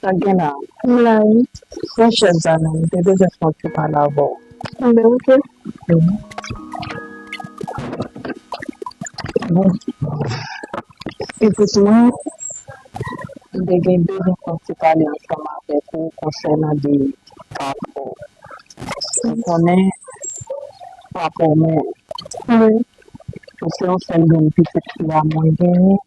Sak gen la? M la wi. Bon chèf Zanon, m te bezwen pran ti pale avè w. Kenbe ok. Bon. Pitit mwen, m te gen bezwen pran ti pale ansanm avèk ou konsènan de ka pa w. Ou konnen pa pou mwen. Wi. Ou se yon sèl grenn pitit fi a mwen genyen.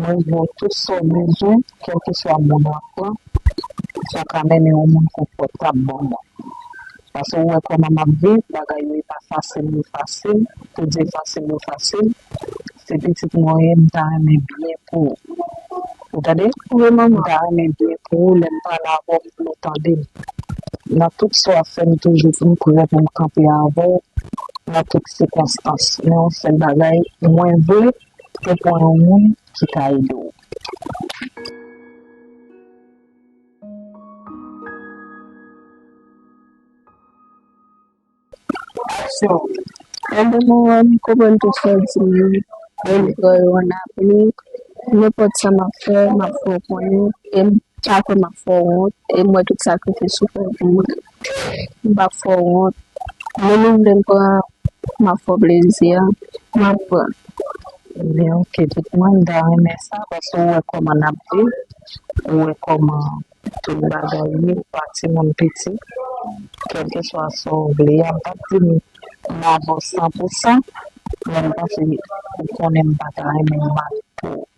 Mwen di nou tout sa w bezwen, kèlkeswa moun lan pran, sa ka mennen yon moun konfòtab ban mwen. Pase ou wè kòman m ap viv, bagay yo e pa fasil ni fasil, pou di fasil yo fasil, se pitit mwen ou ye, m ta renmen byen pou ou. Ou tande? Wi manman. M ta renmen byen pou ou, lè m pale avè w m vle ou tande m. Nan tout sa w ap fè m toujou m prè pou m kanpe avè w nan tout sikonstans. Men yon sèl bagay mwen vle. Ou pwan yon moun ki ka ede w. Aksyon, Ede Moran konprann tout sa w di li, e m pran yo an apli. Nenpòt sa m ap fè, m ap fè w konnen, e m pa kwè m ap fè w wont, e m wè tout sakrifis ou fè pou mwen. M pap fè w wont. Moun ou vle m pran, m ap fè w plezi an, m ap pran. Li di, ok tout mwen, m ta renmen sa paske ou wè kòman n ap viv, ou wè kòman tout bagay ye, ou pa timoun piti. Kèlkeswa sa w vle a, m pap di m dakò san pou san, men m panse ou konnen m pa ta renmen mal pou ou.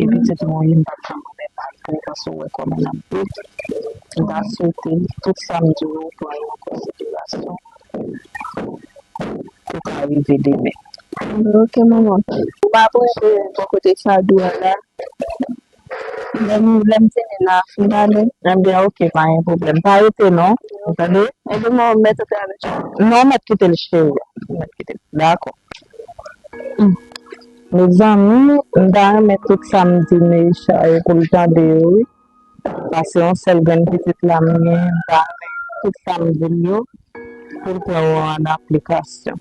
E pitit mwen wi m pat janm renmen Patrick paske w wè kòman l ap bout m ta swete tout sa m di w yo w pran yo an konsiderasyon pou w ka rive demen. Ok manman. Ou pa panse bò kote Sadou a la Lèm lèm fini la fin ale. Ebyen ok pa gen pwoblèm pa rete non ou tande. Ebyen mwen ou mèt rete avèk li. Non ou mèt kite l cheri ou mèt kite l dakò. Mezanmi m ta renmen tout sa m di Neisha yo pou l tande yo wi paske yon sèl grenn pitit la m gen m ta renmen tout sa m di l yo pou l pran yo an aplikasyon.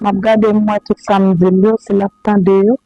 Map gade m wè tout sa m di l yo si lap tande yo.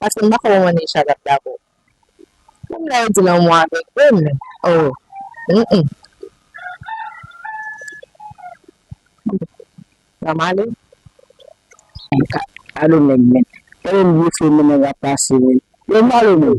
Paske m pako wè mwen Neysha tap dakò. Menm lè yo di lanmou avèg vre men oh humm. Sa male. Anka alo nèg men. Tande m blofé mennen rap la se. Yo malo menm.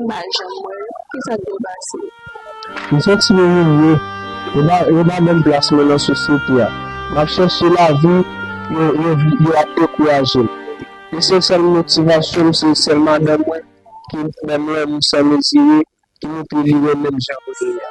Mpa janm wè yo. Kisa k dwe pase? M santi m imilye. Yo pa ban m plas mwen nan sosyete a. M ap chèche lavi, yo ap dekouraje m. Esensèl motivasyon m se sèl madanm mwen ki renmen m lanmou san mezire, ki montre li renmen m jan mwen ye a.